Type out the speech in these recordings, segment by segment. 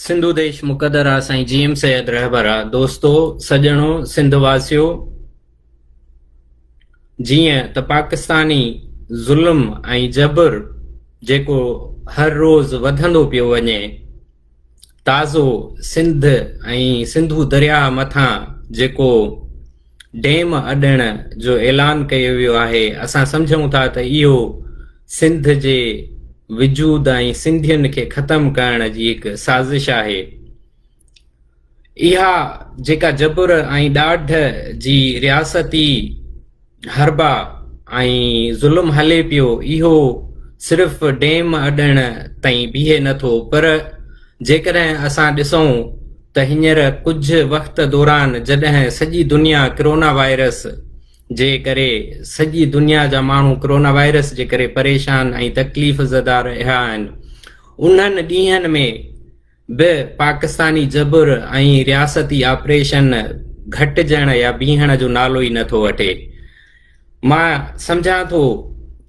سنڌو ديش مقدر آ سائين جي ايم سيد رهبر آ دوستو سڄڻو سنڌ واسيو جيئن ته پاڪستاني ظلم ۽ جبر جيڪو هر روز وڌندو پيو وڃي تازو سنڌ ۽ سنڌو درياهه مٿان جيڪو ڊيم اڏڻ جو اعلان ڪيو ويو آهي اسان سمجهون ٿا ته اهو سنڌ جي وجود ۽ سنڌين کي ختم ڪرڻ جي هڪ سازش آهي اها جيڪا جبر ۽ ڏاڍ جي رياستي حربا ۽ ظلم هلي پيو اهو صرف ڊيم اڏڻ تائين بيهي نٿو پر جيڪڏهن اسان ڏسون ته هينئر ڪجهه وقت دوران جڏهن سڄي دنيا ڪرونا وائرس جي ڪري سڄي دنيا جا ماڻهو ڪرونا وائرس جي ڪري پريشان ۽ تڪليف زده رهيا آهن انهن ڏينهن ۾ به پاڪستاني جبر ۽ رياستي آپريشن گهٽجڻ يا بيهڻ جو نالو ئي نٿو وٺي مان سمجهان ٿو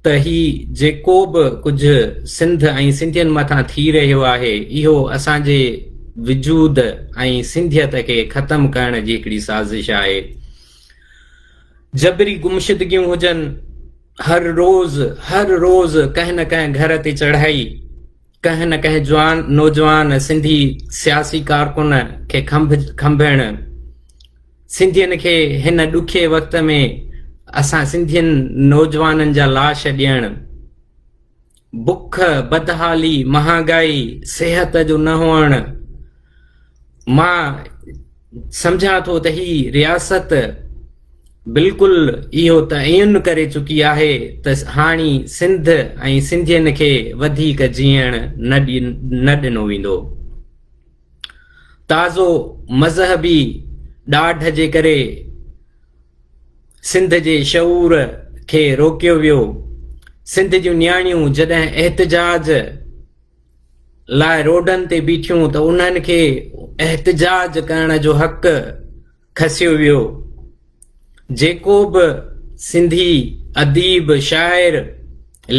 ته هي جيڪو به ڪجهه سنڌ ۽ سنڌين مٿان ٿي رهيو آهي اهو اسان جي وجود ۽ سنڌيت کي ختم ڪرڻ جي هڪڙي سازش آهي. جبري گمشدگيون هجن، هر روز هر روز ڪنهن نه ڪنهن گهر تي چڙهائي ڪنهن نه ڪنهن جوان نوجوان سنڌي سياسي ڪارڪن کي کنڀ کنڀڻ سنڌين کي هن ڏکي وقت ۾ اسان سنڌين نوجوانن جا لاش ڏيڻ، بک، بدحالي، مهانگائي، صحت جو نه هئڻ، مان سمجهان ٿو ته هي رياست بلڪل اهو تعين ڪري چڪي آهي ته هاڻي سنڌ ۽ سنڌين کي وڌيڪ جيئڻ نه ڏنو ويندو. تازو مذهبي ڏاڍ جي ڪري سنڌ جي شعور کي روڪيو ويو سنڌ جون نياڻيون جڏهن احتجاج لاء روڊن تي بيٺيون ته انهن کي احتجاج ڪرڻ جو حق کسيو ويو جيڪو به سنڌي اديب شاعر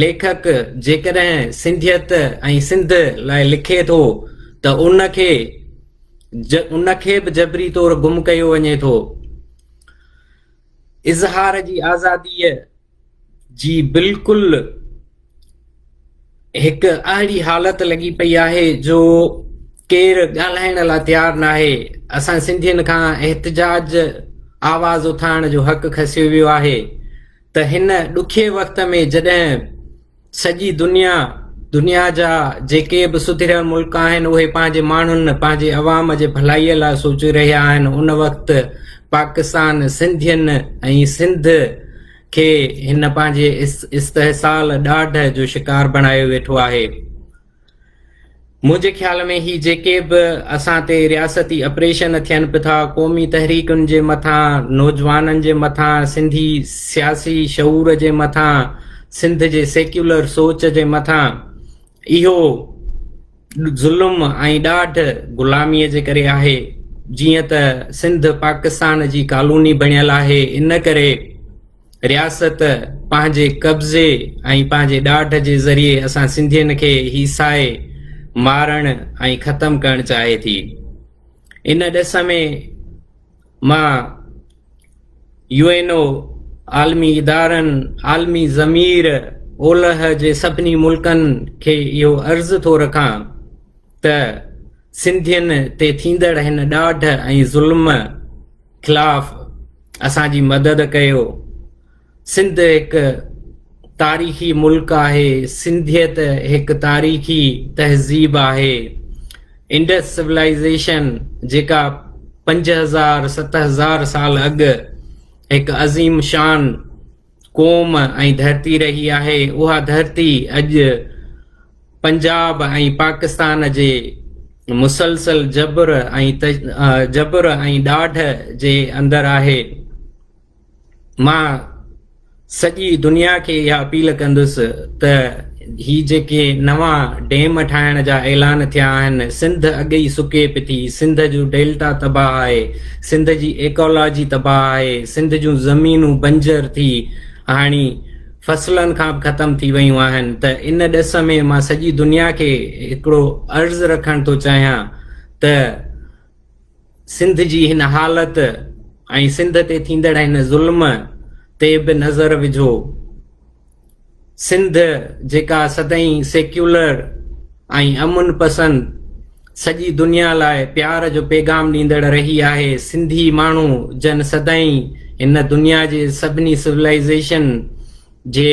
ليکڪ جيڪڏهن سنڌيت ۽ سنڌ لاء لکي ٿو ته ان کي ان کي به جبري طور گم ڪيو وڃي ٿو اظهار جي آزادي جي بلڪل هڪ اهڙي حالت لڳي پئي آهي جو ڪير ڳالهائڻ لاء تيار ناهي اسان سنڌين کان احتجاج آواز اٿائڻ جو حق کسيو ويو آهي ته هن ڏکي وقت ۾ جڏهن سڄي دنيا، دنيا جا جيڪي به سڌريل ملڪ آهن اهي پنهنجي ماڻهن پنهنجي عوام جي ڀلائي لاء سوچي رهيا آهن ان وقت پاڪستان سنڌين ۽ سنڌ کي هن پنهنجي استحصال ڏاڍ جو شڪار بڻايو ويٺو آهي. منهنجي خيال ۾ هي جيڪي به اسان تي رياستي اپريشن ٿين به ٿا قومي تحريڪن جي مٿان نوجوانن جي مٿان سنڌي سياسي شعور جي مٿان سنڌ جي سيڪيولر سوچ جي مٿان اهو ظلم ۽ ڏاڍ غلامي جي ڪري آهي جيئن ته سنڌ پاڪستان جي ڪالوني بڻيل آهي ان ڪري رياست پنهنجي قبضي ۽ پنهنجي ڏاڍ جي ذريعي اسان سنڌين کي هي سائي مارڻ ۽ ختم ڪرڻ چاهي ٿي ان ڏس ۾ مان يو اين او عالمي ادارن عالمي ضمير اولهه جي سڀني ملڪن کي اهو عرض ٿو رکان ته سنڌين تي ٿيندڙ هن ڏاڍ ۽ ظلم خلاف اسان جي مدد ڪيو سنڌ هڪ تاريخي ملڪ آهي سنڌيت هڪ تاريخي تهذيب آهي انڊس سولائزيشن جيڪا پنج هزار ست هزار سال اڳ هڪ عظيم شان قوم ۽ ڌرتي رهي آهي، اها ڌرتي اڄ پنجاب ۽ پاڪستان جي مسلسل جبر ۽ جبر ۽ ڏاڍ جي اندر آهي. مان سڄي دنيا کي اها اپيل ڪندس ته هي جيڪي نوان ڊيم ٺاهڻ جا اعلان ٿيا آهن سنڌ اڳ ئي سڪي پٿي سنڌ جو ڊيلٽا تباهه آهي سنڌ جي ايڪالاجي تباهه آهي سنڌ جون زمينون بنجر ٿي هاڻي فصلن کان به ختم ٿي ويون آهن ته ان ڏس ۾ مان سڄي دنيا کي هڪڙو عرض رکڻ ٿو چاهيان ته سنڌ جي هن حالت ۽ سنڌ تي ٿيندڙ هن ظلم تي به نظر وجهو سنڌ جيڪا سدائين سيڪيولر ۽ امن پسند سڄي دنيا لاء پيار جو پيغام ڏيندڙ رهي آهي سنڌي ماڻهو جن سدائين هن دنيا جي سڀني سولائيزيشن جي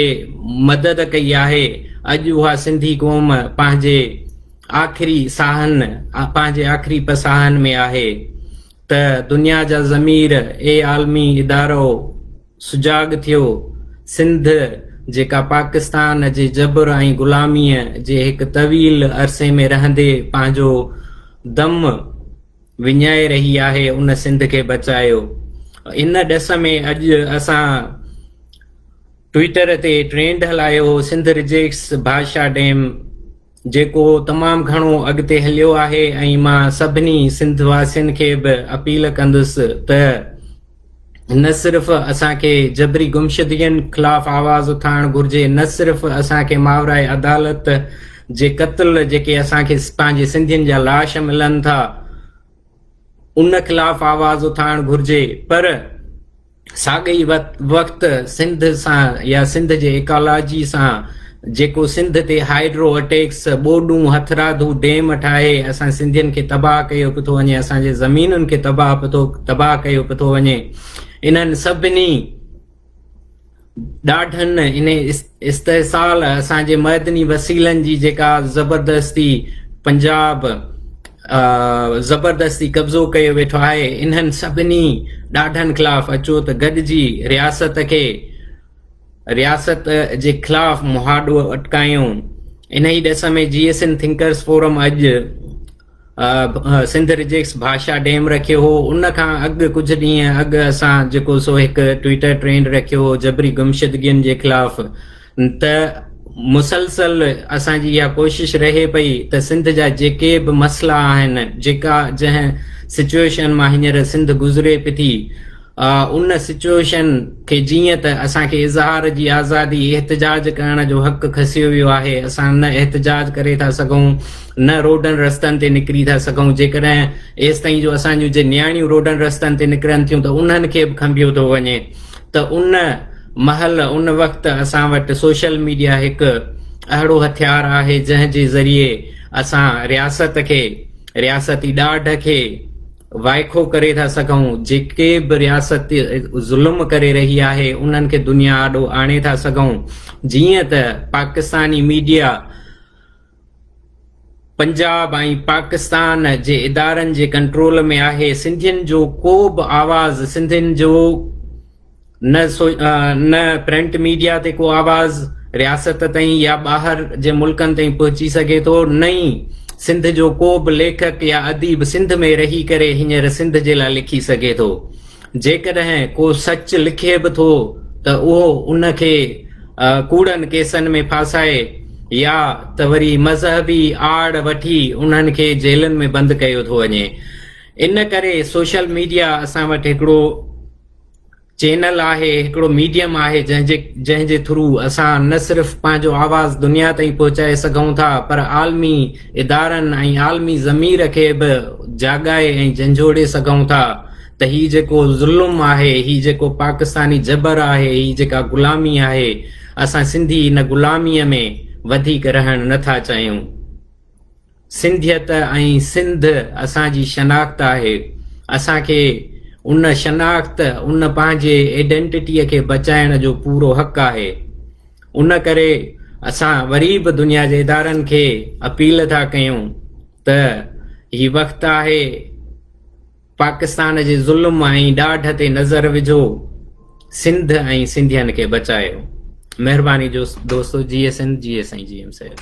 مدد ڪئي آهي اڄ اها سنڌي قوم پنهنجي آخري ساهن پنهنجي آخري پساهن ۾ آهي ته دنيا جا ضمير اي عالمي ادارو سجاڳ ٿيو. سنڌ جيڪا پاڪستان جي جبر ۽ غلاميء جي هڪ طويل عرصي ۾ رهندي پنهنجو دم وڃائي رهي آهي، ان سنڌ کي بچايو. ان ڏس ۾ اڄ اسان ٽوئيٽر تي ٽرينڊ هلايو هو سنڌ رجيڪٽس بادشاهه ڊيم. جيڪو تمام گهڻو اڳتي هليو آهي ۽ مان سڀني سنڌ واسين کي به اپيل ڪندس ته نه صرف اسان کي جبري گمشدگين خلاف آواز اٿائڻ گهرجي نه صرف اسان کي ماورائي عدالت جي قتل جيڪي اسان کي پنهنجي سنڌين جا لاش ملن ٿا ان خلاف آواز اٿائڻ گهرجي پر ساڳئي وقت سنڌ سان يا سنڌ جي ايڪالاجي سان جيڪو سنڌ تي هائيڊرو اٽيڪس ٻوڏون هٿراڌو ڊيم ٺاهي اسان سنڌين کي تباهه ڪيو پيو ٿو وڃي اسان جي زمينن کي تباهه پيو تباهه ڪيو پيو ٿو وڃي انهن سڀني ڏاڍن ان استحصال اسان جي معدني وسيلن جي جيڪا زبردستي پنجاب زبردستي قبضو ڪيو ويٺو آهي انهن سڀني ڏاڍن خلاف اچو ته گڏجي رياست کي رياست جي خلاف مهاڏو اٽڪايون انهي ڏس ۾ G S N thinkers forum اڄ سنڌ رجيڪس ڀاشا ڊيم رکيو هو ان کان اڳ ڪجهه ڏينهن اڳ اسان جيڪو سو هڪ ٽويٽر ٽرينڊ رکيو هو جبري گمشدگين جي خلاف ته مسلسل اسان جي اها ڪوشش رهي پئي ته سنڌ جا جيڪي به مسئلا آهن جيڪا جنهن سچويشن مان هينئر سنڌ گذري پئي ٿي ان سچوئيشن کي جيئن ته اسان کي اظهار جي آزادي، احتجاج ڪرڻ جو حق کسيو ويو آهي، اسان نه احتجاج ڪري ٿا سگهون، نه روڊن رستن تي نڪري ٿا سگهون، جيڪڏهن ايستائين جو اسان جون جي نياڻيون روڊن رستن تي نڪرن ٿيون ته انهن کي به کنڀيو ٿو وڃي ته ان مهل ان وقت اسان وٽ سوشل ميڊيا هڪ اهڙو هٿيار آهي جنهن جي ذريعي اسان رياست کي رياستي ڏاڍ کي وائکو ڪري ٿا سگهون، جيڪي به رياست ظلم ڪري رهي آهي انهن کي دنيا آڏو آڻي ٿا سگهون، جيئن ته پاڪستاني ميڊيا پنجاب ۽ پاڪستان جي ادارن جي ڪنٽرول ۾ آهي، سنڌين جو ڪو به آواز سنڌين جو نه پرنٽ ميڊيا تي ڪو آواز رياست تائين يا ٻاهر جي ملڪن تائين پهچي سگهي ٿو نه ئي سنڌ جو ڪو به ليکڪ يا اديب سنڌ ۾ رهي ڪري هينئر سنڌ جي لاء لکي سگهي ٿو جيڪڏهن ڪو سچ لکي به ٿو ته اهو ان کي ڪوڙن ڪيسن ۾ ڦاسائي يا ته وري مذهبي آڙ وٺي انهن کي جيلن ۾ بند ڪيو ٿو وڃي ان ڪري سوشل ميڊيا اسان وٽ هڪڙو چينل آهي هڪڙو ميڊيم آهي جنهن جي جنهن جي ٿرو اسان نه صرف پنهنجو آواز دنيا تائين پهچائي سگهون ٿا پر عالمي ادارن ۽ عالمي ضمير کي به جاڳائي ۽ جنجهوڙي سگهون ٿا ته هي جيڪو ظلم آهي هي جيڪو پاڪستاني جبر آهي هي جيڪا غلامي آهي اسان سنڌي ان غلامي ۾ وڌيڪ رهڻ نه ٿا چاهيون. سنڌيت ۽ سنڌ اسان جي شناخت آهي، اسان کي ان شناخت، ان پنهنجي ايڊنٽٽيء کي بچائڻ جو پورو حق آهي. ان ڪري اسان وري به دنيا جي ادارن کي اپيل ٿا ڪيون ته هي وقت آهي، پاڪستان جي ظلم ۽ ڏاڍ تي نظر وجھو سنڌ ۽ سنڌين کي بچايو مهرباني جو دوستو G S N G S سائين جي ايم سيد